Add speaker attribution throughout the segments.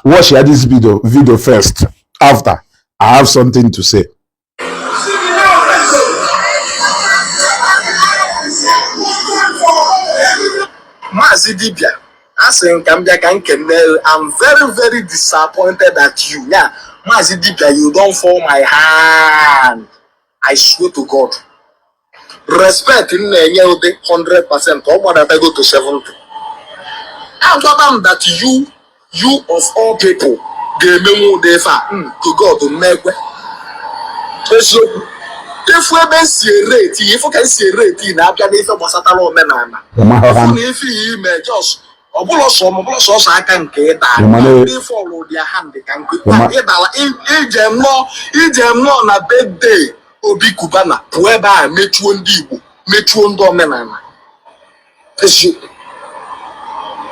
Speaker 1: watch this video video first after i have something to say
Speaker 2: maazị dibia asị m ka m bịa ka m kene I'm very very disappointed at you ya maazị dibia you don fall my hand I swear to God respect m na-enye ụdị 100% ọ gbadatago to 70 a gwaba m that you you of all people ga-emenwu ụdị ife a mm, to God m ma-ekwe ị fụ ebe m si erate ị ị fụ ka m si erate ị na a bịa n'ife gbasatara omenala na ife ihe i me just ọbụla sọ m ọbụla sọsọ aka nke ịda ndị fọlụ ụdị ha ndị ka nkụ ịdala i je nọọ i je nọọ na birthday Obi Kubana wee bịa mechuo ndị Igbo mechuo ndị omenala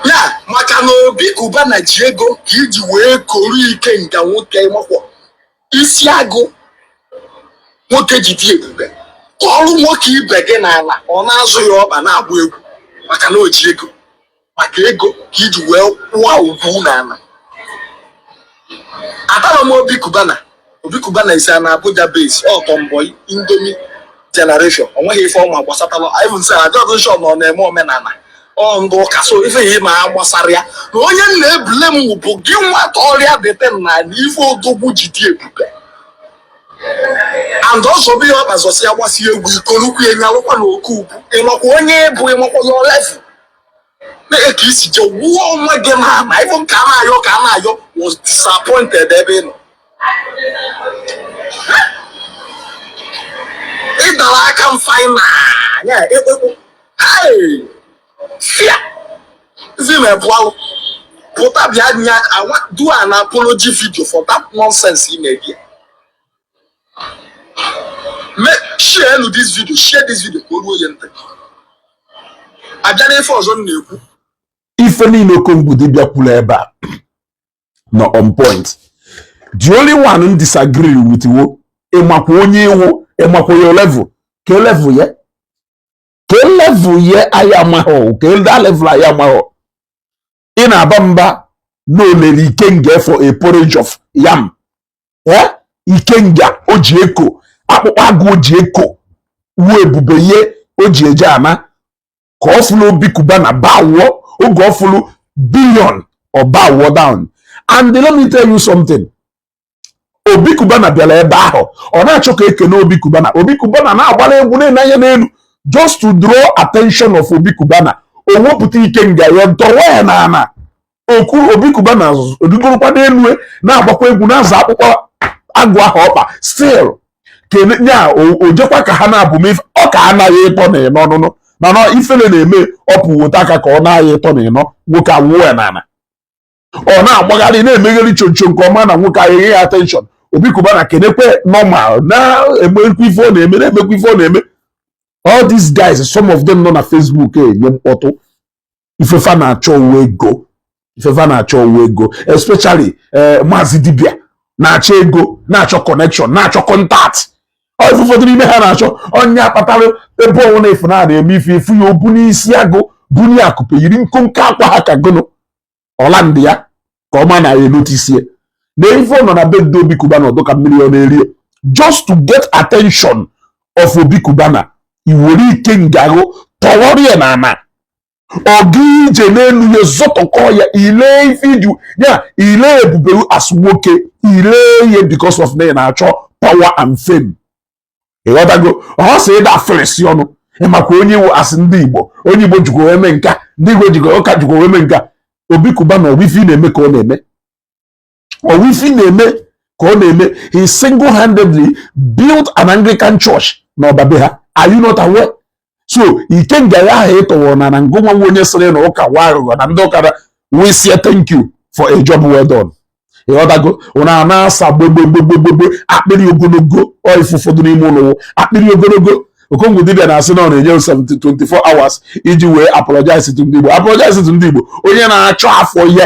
Speaker 2: yeah maka na Obi Kubana ji ego ka i ji wee koro ikenga nwoke makwọ isi agụ nwoke ji dị ebube kọọrọ nwoke ibe gị n'ala ọ na-azọ ya ọkpa na-agba egwu maka na o ji ego maka ego ka i ji wee wụọ ugwu n'ala atarọ m obi kubana obi kubana is an Abuja base ọtọ mbọ indomi generation o nweghị ife ọ ma gbasatara even sef adịrọ m sure na ọ na-eme omenala ọ ndị ụka so ife ihe ma ha gbasara ya na onye m na-eblame bụ gị wetara ya dote n'ana ife odogwu ji dị ebube and ọzọ bụ ihe ọ gbazọsịa gbasịa egwu i kolukwa ya nyalụkwa na oke ugwu ị makwa onye ị bụ ị makwa your level Lee ka i si je wụọ onwe gị n'ana even Kanayo Kanayo was disappointed ebe ị nọ ị dara aka m faina ya ekpekpu Hey! fia zi me bụ alụ pụta bịa nye awa do an apology video for that nonsense i me ebe a Me- share nu this video share this video ka o ruo ya ntị a bịa n'ife ọzọ m na-ekwu ife
Speaker 1: niile Okongwu Dibịa kwuru ebe a nọ on point the only one m disagree with wụ ị makwa onye ị wụ ị makwa your level kee level ya kee level ya anyị amahọ kee that level anyị amahọ ị na-aba mba na o lele ikenga for a porridge of yam eh? ikenga o ji eko akpụkpọ agụ o ji eko wụ ebube ya o ji eje ana ka ọ fụlụ Obi Kubana bawụọ oge ọ fụlụ billion ọ bawụọ down and let me tell you something obi kubana bịara ebe ahụ ọ na-achọ ka o kene obi kubana obi kubana na-agbara egwu na-enye anya n'elu just to draw attention of obi kubana o wepụta ikenga ya dọwa ya n'ana ụkwụ obi kubana rigorokwa n'elu e, na-agbakwa egwu na-azọ akpụkpọ agụ ahụ ọkpa still kene ya o jekwa ka ha na-abụ m ọ ka anaghị ịtọ na ịnọ ọnụnụ mana ifele na-eme ọ pụwota aka ka ọ na-agha ịtọ na ịnọ nwoke awụọ ya n'ala ọ na-agbagharị na-emegheri choncho ka ọ ma na nwoke ahụ enye ya attention Obi Cubana kenekwe normal na-emekwa ife ọ na-eme na-emekwa ife ọ na-eme all these guys some of them nọ na Facebook enye mkpọtụ ife fa na-achọ wụ ego ife fa na-achọ wụ ego especially eh, maazị dibịa na-achọ ego na-achọ connection na-achọ contact ọ ife ụfọdụ n'ime ha na-achọ onye akpatara ebe ọnwụ na-efu na-eme ife ị fụ ya o bunie isi agụ bunie akụpe yiri nkonko akwa ha ka gụnụ ọla ndị a ka ọ ma na ya enotisie na ife nọ na be ndị Obi Cubana ọ dụ ka millionaire just to get attention of Obi Cubana i were ikenga ghụ tọwọrọ ya na ana ọ gaa ije n'elu ya zọtọkọ ya ile ife dụ ya ile ebube ghụ as nwoke ile ye because of na ị na-achọ power and fame ịghọtago ọ sị ịda afịrịsị ọnụ ị makwa onye ị wụ a sị ndị igbo onye igbo jikwa eme nka ndị igbo jikwa ụka jikwa eme nka Obi Cubana ọ wụ ife ọ na-eme ka ọ na-eme ọ wụ ife ọ na-eme ka ọ na-eme he single handedly built an anglican church na Ọba be ha are you not aware so ikenga ya ahụ ị tọwara na ana ngụ nwa wụ onye sịrị na ụka wụ aghụghọ na ndị ụka we say thank you for a job well done ịghọtago unu a na-asa gbogbogbogbogbogbo akpịrị ogologo ọ ife ụfọdụ n'ime unu wụ akpịrị ogologo Okongwu dibịa na-asị na ọ na-enye 24 hours iji wee apologize to ndị Igbo apologize to ndị Igbo onye na-achọ afọ ihe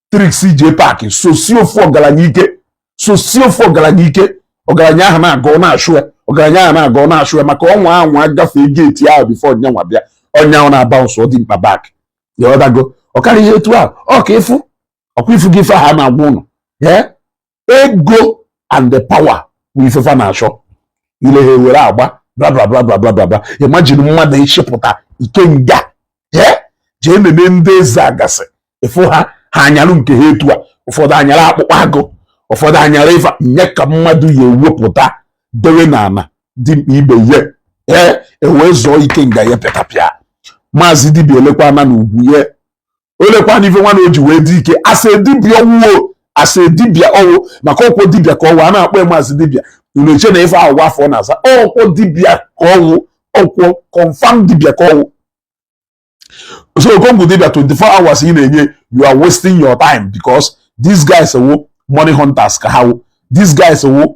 Speaker 1: tricks jee park soshie ofu ọgaranya ike soshie ofu ọgaranya ike ọgaranya ahụ na-aga ọ na-achụ ya ọgaranya ahụ na-aga ọ na-achụ ya maka ọnwa ahụ agafee gate ahụ before onye nwa bịa onye ahụ na-abounce dimkpa back ịghọtago ọ karịghị etu ahụ ọ ka ị fụ ọ kwa ị fụgo ife ahụ a na-agwa unu ee ego and the power bụ ife fa na-achọ ile ha ewere agba blablablablabla imagine mmadụ ịchịpụta ikenga jee nene ndị eze agasị ị fụ ha ha anyalụ nke ha etu a ụfọdụ anyara akpụkpọ agụ ụfọdụ anyara ife nye ka mmadụ ya ewepụta dewe n'ala dimkpa ibe ye ee ewee zọọ ikenga ya pịatapịa maazị dibịa elekwana na ugwu ye o lekwana ife nwa na o ji wee dị ike as a dibịa ọ wụ o as a dibịa ọ wụ maka ọ kwa dibịa ka ọ wụ a na-akpọ ya maazị dibịa unu eche na ife ahụ wụ afa ọ na-aza ọ kwa dibịa ka ọ wụ ọ kwa confirm dibịa ka ọ wụ so Okongwu dibịa 24 hours ị na-enye you are wasting your time because these guys wụ money hunters ka ha wụ these guys wụ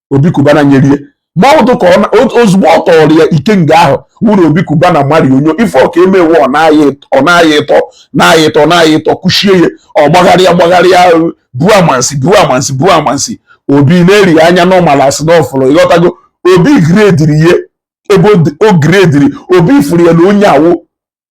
Speaker 1: Obi Cubana nyere ya ma ọ dụ ka ozugbo ọ tọrọ ya ikenga ahụ wụrụ Obi Cubana mari onyo ife ọ ka emewe ọ na-ayị ịtọ na-ayị ịtọ na-ayị ịtọ kụchie ya ọ gbagharịa gbagharịa buo amansi buo amansi buo amansi Obi na-ele ya anya normal as in na ọ fụrụ ịghọtago Obi grediri ya ebe o grediri Obi fụrụ ya na onye a wụ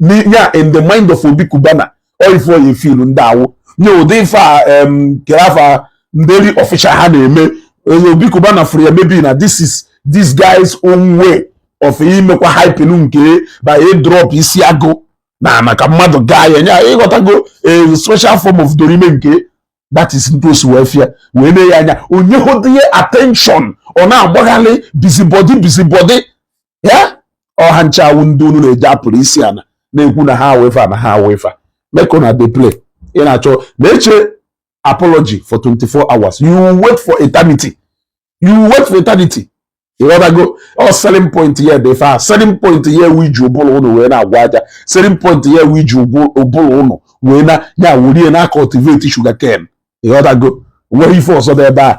Speaker 1: ya in the mind of Obi Cubana ọ ife oyi filu ndị awụ nye ụdị ife a kere afa nderi official ha na-eme Obi Cubana fụrụ ya maybe na this is this guy's own way of imekwa hype nke by drop isi agụ n'ana ka mmadụ gaa ya nye ịghọtago a special form of dorime nke that is etu o si wee fụ ya wee na-ene ya anya onye hụdịnye attention ọ na-agbaghalị busybody busybody ya ọ ha ncha wụ ndị unu na-eje akpọrọ isi ana na-ekwu na ha awụ ife a na ha awụ ife a make una dey play ị na-achọ na-eche apology for 24 hours you wait for eternity you wait for eternity ịghọtago ọ selling point ya dị fa selling point ya wụ iji ụbụrụ unu wee na-agwa aja selling point ya wụ iji ụbụrụ unu wee na ya wurie na cultivate sugar cane ịghọtago nwere ife ọzọ dị ebe a